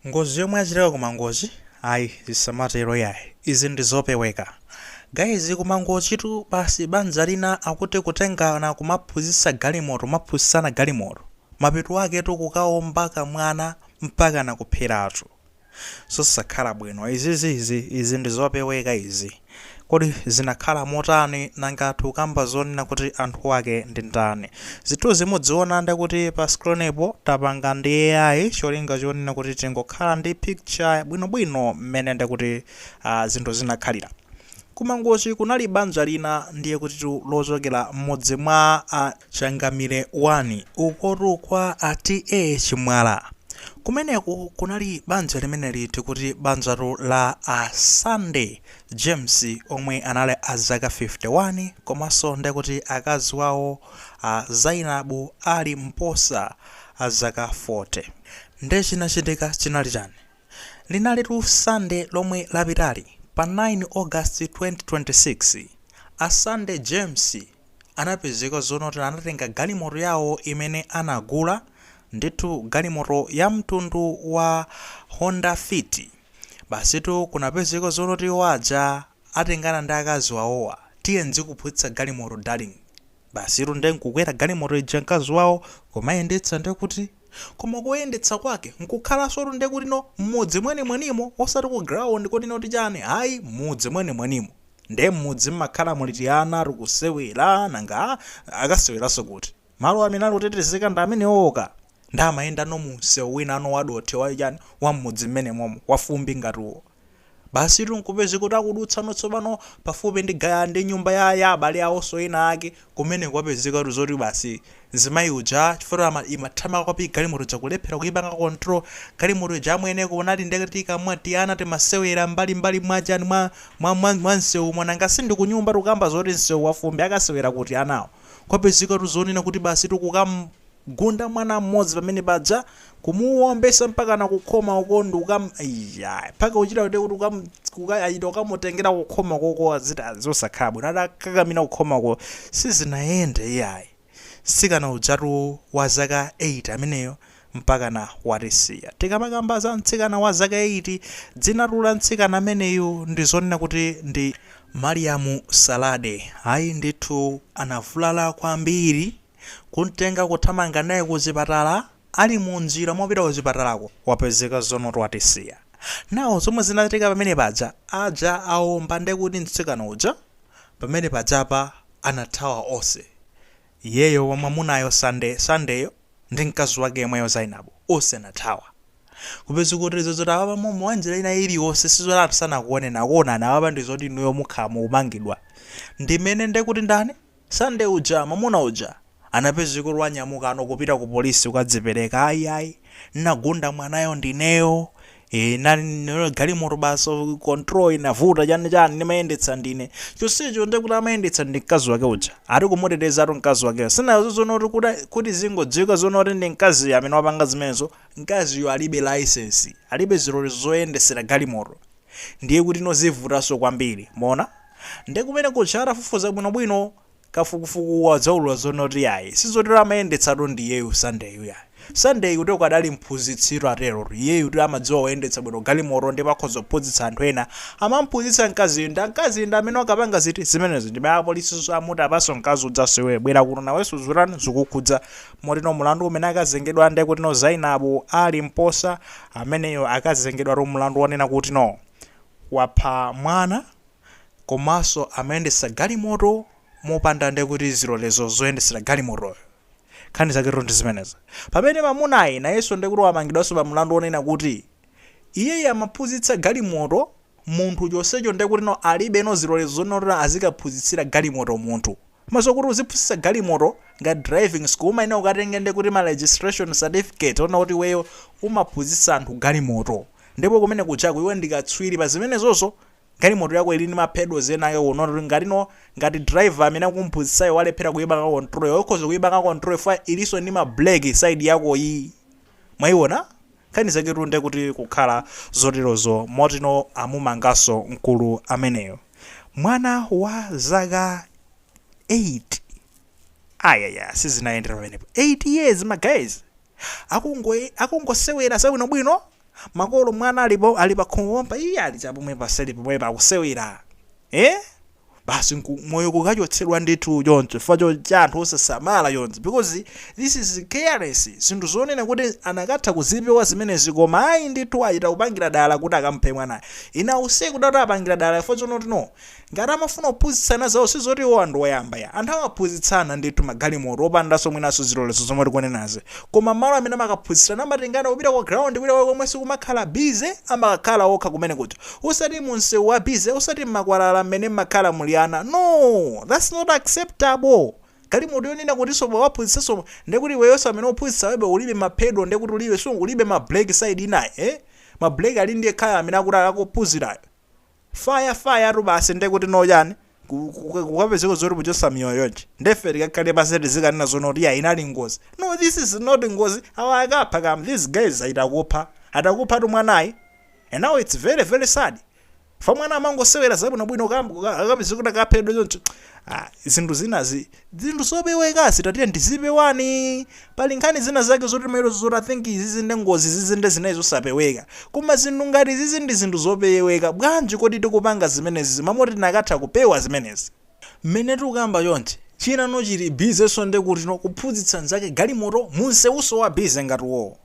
Ngozi yomwe yachitika ku Mangochi ayi zisamatero yayi izi ndizopeweka guys ku Mangochi tu basi banja lina akuti kutengana kumaphunzitsa galimoto kumaphunzitsana galimoto mapeto ake tu kukaomba kamwana mpakana kupheratu zosakhala bwino izizi izi ndizopeweka izi. Kodi zinakhala motani nanga tikukamba zonena kuti anthu ake ndi ndani? Zithunzi mudziona ndekuti pa screen po tapanga ndi AI cholinga chonena kuti tingokhala ndi picture bwino bwino mmene ndekuti zinthu zinakhalira. Ku Mangochi kunali banja lina ndiye kutitu lochokera mmudzi mwa. Changamire 1, ukotu kwa a TA Chimwala. Kumeneko kunali banja limeneli tikuti banjatu la a Sunday James omwe anali a zaka 51 komanso ndekuti akazi wawo a Zainabu Ali Mposa a zaka 40. Nde chinachitika chinali chani? Linalitu Sunday lomwe lapitali pa 9 August 2026, a Sunday James, anapezeka zonena kuti anatenga galimoto yawo imene anagula, ndithu galimoto ya mtundu wa Honda Fit. Basitu kunapezeka zonena kuti iwo aja atengana ndi akazi wawowa, tiye ndzikuphunzitsa galimoto darling. Basitu nde nkukwera galimoto ija mkazi wawo kumayendetsa ndekuti. Koma koyendetsa kwake nkukhalansotu nde kuti no mmudzi mwenimwenimo osati ku ground koti no tichani ayi mmudzi mwenimwenimo. Nde mmudzi mmakhala muli tiana tikusewera nanga akaseweranso kuti? Malo amene ali otetezeka ndi amenewo ka. Nde amayenda no mu msewu wina no wadothi wa chani wa mmudzi mmenemomo wa fumbi ngati uwo. Basitu nkupezeka kuti akudutsano tsopano pafupi ndi ga, ndi nyumba ya, ya abale awonso ena ake, kumene kwapezekatu zoti basi mzimayi uja, chifukwa ama, imathamanga kwambiri galimoto ija kulephera kuipanga control, galimoto ija amwene kunali nde tikamati tiana timasewera mmbali mmbali mwa chani, mwa, mwa, mwa, mwa msewumo, nanga si ndi kunyumba, tukamba zoti msewu wa fumbi, akasewera kuti anawo? Kwapezekatu zonena kuti basitu kukam. gunda mwana mmodzi pamene paja kumuwombetsa mpakana kukhoma uko ndi ukam iyayi mpaka kuchita kuti kuti ukam kuka ayita ukamutengera kukhoma koko a zinthu zosakhala bwino adakakamira kukhoma uko sizinayende iyayi mtsikana ujatu wa zaka 8 ameneyo mpakana watisiya tikamakamba za mtsikana wa zaka 8 dzinatu la mtsikana ameneyo ndi zonena kuti ndi Mariamu Salade ayi ndithu anavulala kwambiri Kumtenga kuthamanga naye kuchipatala Ali mu njira mopita kuchipatalako wapezeka zoona kuti watisiya. Now zomwe zinachitika pamene paja aja awomba nde kuti mtsikana uja pamene pajapa anathawa onse iyeyo wamwamunayo Sunday Sunday yo ndi mkazi wake yemweyo Zainabu onse anathawa. Kupezeka kuti zozoti apapa momo mwanjira ina iliyonse sizoti anthu sanakuoneni akuonani apapa ndizoti inuyo mukhala mukumangidwa ndimene nde kuti ndani Sunday uja mwamuna uja anapezeka kuti wanyamuka ano kupita ku polisi kukadzipereka ayi ayi nnagunda mwanayo ndineyo ee inali galimoto basi control inavuta chani chani ndimayendetsa ndine chonsecho nde kuti amayendetsa ndi mkazi wake uja ati kumutetezatu mkazi wakeyo sinazo zoona kuti kuti kuti zingodziwika zoona kuti ndi mkaziyo amene wapanga zimenezo mkaziyo alibe license alibe zilolezo zoyendetsera galimoto ndiye kutino zivutanso kwambiri mwaona Nde kumene kuja atafufuza bwino bwino kafukufuku wadzaulula zoona kuti yayi sizotero amayendetsatu ndi iyeyu Sunday yu yayi Sunday yu anangokhala mphunzitsitu aterotu iyeyu kuti amadziwa kuyendetsa bwino galimoto ndipo akhoza kuphunzitsa anthu ena amamphunzitsa mkaziyu ndi mkaziyu ndi amene wakapanga ziti zimenezo ndipo apolisinso amuti apaso mkazi udzanso iweyo bwera kuno nawenso uzutani zukukhudza motino mulandu umene akazengedwa nde kutino Zainabu Ali Mposa ameneyo akazengedwatu mulandu wonena kutino wapha mwana komanso amayendetsa galimoto mopanda ndekuti zilolezo zoyendetsera galimotoyo. Nkhani zaketu ndi zimenezi. Pamene mamunayu nayenso ndekuti wamangidwanso pa mlandu wonena kuti iyeyu amaphunzitsa galimoto munthu chonsecho ndekutino alibeno zilolezo zonena kuti azikaphunzitsira galimoto munthu. Komanso kuti uziphunzitsa galimoto ngati driving school umayenera ukatenge ndekuti ma registration certificate onena kuti iweyo umaphunzitsa anthu galimoto. Ndipo kumene kujako iwe ndi katswiri pa zimenezozo. Ngalimoto yako ili ndi ma pedals enawo oti ngatino ngati driver amene ukumphunzitsayo walephera kuipanga control yo ukhoza kuipanga control ifa ilinso ndi ma brake side yako yi mwaiona nkhani zaketu nde kuti kukhala zoterozo motino amumanganso mkulu ameneyo mwana wa zaka 8 ayaya sizinayendera pamenepo 8 years ma guys akungo akungosewera zabwinobwino makolo mwana alipo ali pakhomo pompa iye ali chapomwe paseli pomwepa akusewera eh basi nku- moyo kukachotsedwa ndithu choncho chifukwa cho- cha anthu osasamala choncho because this is careless zinthu zonena kuti anakatha kuzipewa zimenezi koma ayi ndithu achita kupangira dala kuti akamuphe mwanayo ine ndikuona kuti apangira dala chifukwa chonotino Ngati amafuna kuphunzitsana zawo sizoti iwowa ndi oyamba ya. Anthu amaphunzitsana ndithu magalimoto opandanso mwinanso zilolezo zomwe tikunenazi. Koma malo amene amakaphunzitsirana amatengana kupita ku ground kwina kwake komwe sikumakhala busy amakakhala okha kumene kuja. Osati mu msewu wa busy, osati mmakwalala mmene mmakhala muli ana. No! That's not acceptable! Galimoto yonena kutinso pokaphunzitsanso ndekuti iweyonso amene ukuphunzitsawebe ulibe ma pedal ndekuti ulibe, ulibe ma brake side inayi, eh? Ma brake ali ndi yekhayo amene akuti akakuphunzirayo. fire fire tu basi nde kuti no chani Ku- ku- ku- kukapezeka zoti kuchotsa miyoyo yonse nde ife tikakhale pansi tizikanena zoona kuti ya inali ngozi no this is not ngozi awa akapha kam these guys atakupha atakupha tu mwanayu and now it's very very sad chifukwa mwana amangosewera zabwinobwino akapezeka kuti akaphedwa choncho Ah, zinthu zinazi Zinthu zopewekazi tatiyeni tizipewani. Pali nkhani zina zake zoti timayerozo zoti I think izizi nde ngozi izizi nde zinali zosapeweka. Koma zinthu ngati izizi ndi zinthu zopeweka. Bwanji kodi tikupanga zimenezizi mmalo moti tinakatha kupewa zimenezi. Mmene tikukamba chonchi, chinano chili busy nso nde kuti no kuphunzitsa nzake galimoto mu nsewunso wa busy ngati uwowo.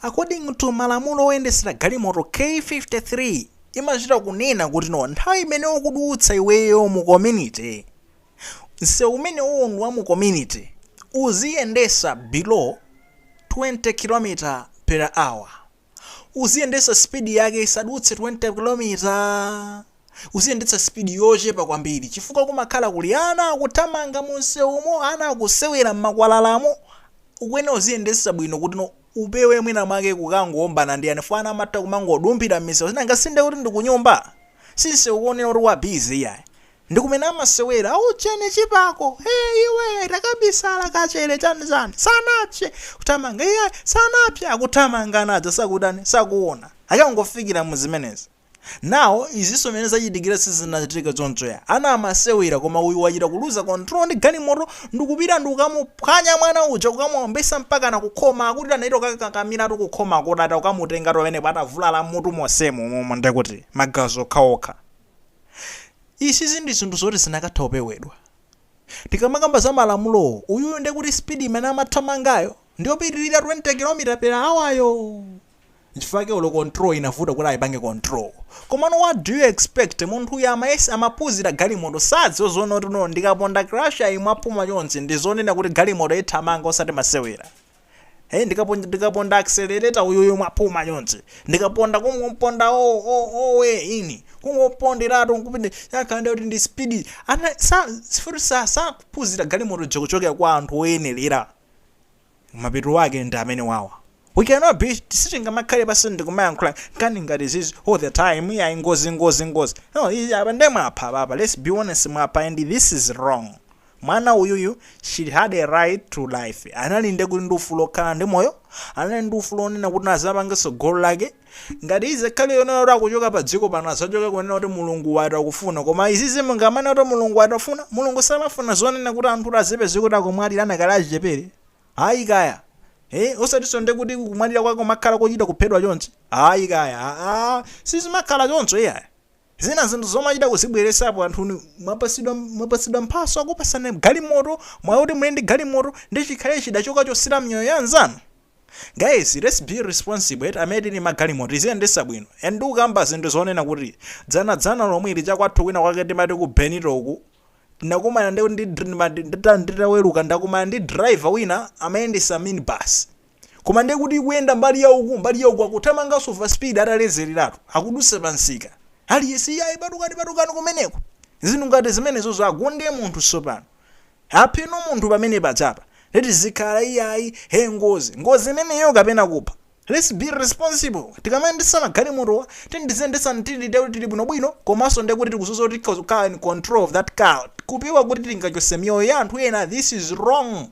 According to malamulo oyendetsera galimoto k53 imachita kunena kuti no nthawi imene ukudutsa iweyo mu community, nsewu umenewo ndi wa mu community uziyendesa below 20 kilometer per hour uziyendesa speed yake isadutse 20 kilometer uziyendetsa speed yochepa kwambiri chifukwa kumakhala kuli ana akuthamanga mu nsewumo ana akusewera m'makwalalamo ukuyenera uziyendesa bwino kuti no upewe mwina mwake kukangowombana ndi ana chifukwa ana amatha kumangodumphira m'misewu sinanga si nde kuti ndi kunyumba si nsewu wonena kuti wa busy yayi Ndi kumene amasewera, Aujeni chipako! Hey, iwe! Takabisala, kachere, chani chani! Sanapse! Kuthamanga, iyayi! Sanapse! Akuthamanga ana aja sakutani, sakuona. Akangofikira mu zimenezi. Now, izinso mene zachitikira sizinachitike choncho ya. Ana amasewera koma uyu wachita kuluza control ndi galimoto ndikupita ndikukamuphwanya mwana uja kukamuombesa mpakana kukhoma akuti anachita kukakakamiratu kukhomako tata kukamutengatu pamenepo atavulala m'mutu monsemu momwe ndekuti magazi okhaokha. Izizi ndi zinthu zoti zinakatha kupewedwa. Tikamakamba za malamulowo, uyuyu nde kuti speed imene amathamangayo ndiyopitilira 20 kilomita per hour yo! Nchifukwa chake olo control inavuta kuti aipange control. Komano what do you expect, munthuyo amayesa, amaphunzira galimoto, sadziwa zoona kuti no ndikaponda clutch yi mwaphuma chonchi ndizonena kuti galimoto ithamanga osati masewera. Hey, ndikaponda ndikaponda accelerator uyuyu mwapuma chonse ndikaponda kungomponda o o owe ine kungoponderatu nkupinde yakanda kuti ndi speed ana sa sifuti sa sakuphunzira galimoto chokuchokera kwa anthu oyenerera mapeto ake ndi amenewawa we cannot be sitingamakhale pasi ndikumayankhula nkhani ngati zizi all the time ya ngozi ngozi ngozi no izi apa nde mwapha papa let's be honest mwapha and this is wrong Mwana uyuyu she had a right to life anali ndekuti ndi ufulu okhala ndi moyo anali ndi ufulu onena kuti naye azapange tsogolo lake ngati izakhala yonena kuti akuchoka pa dziko pano azachoka kunena kuti mulungu wati akufuna koma izizi mungamanene kuti mulungu wati wafuna mulungu samafuna zonena kuti anthu kuti azipeze kuti akumwalira adakali achichepere ayi kaya Eh, osatiso ndekuti kumwalira kwako kumakhala kochita kuphedwa chonchi ayi kaya aa sizimakhala choncho iyayi Zina zinthu zomachita kuzibweresapo anthu inu mwapasidwa mwapasidwa mphaso yakupasani galimoto mwayi oti muli ndi galimoto nde chikhale chida chokachosera miyoyo ya anzanu? Guys lets be responsible eti amene tili ndi magalimoto tiziyendesa bwino and ndikukamba zinthu zonena kuti dzana dzana lomwili chakwathu kwina kwake timati ku Benito uku tinakumana ndi ndi ndi ma ndi ta nditaweluka ndakumana ndi driver wina amayendesa minibus Koma ndiye kuti ikuyenda mbali ya uku, mbali ya uku akuthamanganso over speed atalezeleratu. Akudutsa pa msika. Aliyense iyayi patukani patukani kumeneko. Zinthu ngati zimenezozo agunde munthu tsopano. Aphe munthu pamene pajapa. Ndiye tizikhala iyayi, he ngozi. Ngozi imeneyo kapena kupha. Let's be responsible. Tikamayendetsa magalimotowa tiyeni tiziyendetsa tili ndiye kuti tili bwinobwino komanso ndiye kuti tikudziwa zoti tikhoza kukhala in control of that car kupewa kuti tingachotse miyoyo ya anthu ena. This is wrong.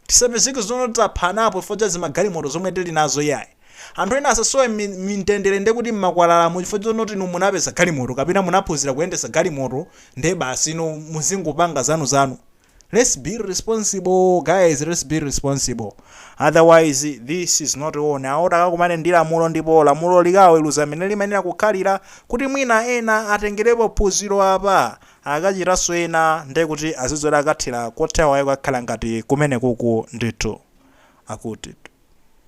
Tisapezeke zoti taphanapo chifukwa cha zimagalimoto zomwe tili nazo iyayi. Anthu ena asasowe mtendere nde kuti mmakwalalamu chifukwa chonena kuti inu munapeza galimoto kapena munaphunzira kuyendetsa galimoto nde basi inu muzingopanga zanuzanu. Let's be responsible guys let's be responsible otherwise this is not on awo takakumane ndi lamulo ndipo lamulo likawaweruze mmene limayenera kukhalira kuti mwina ena atengerepo phunziro apa Akachitanso ena nde kuti azidziwa kuti akathera kotani waayi kukakhala ngati kumenekuku ndithu. Akuti.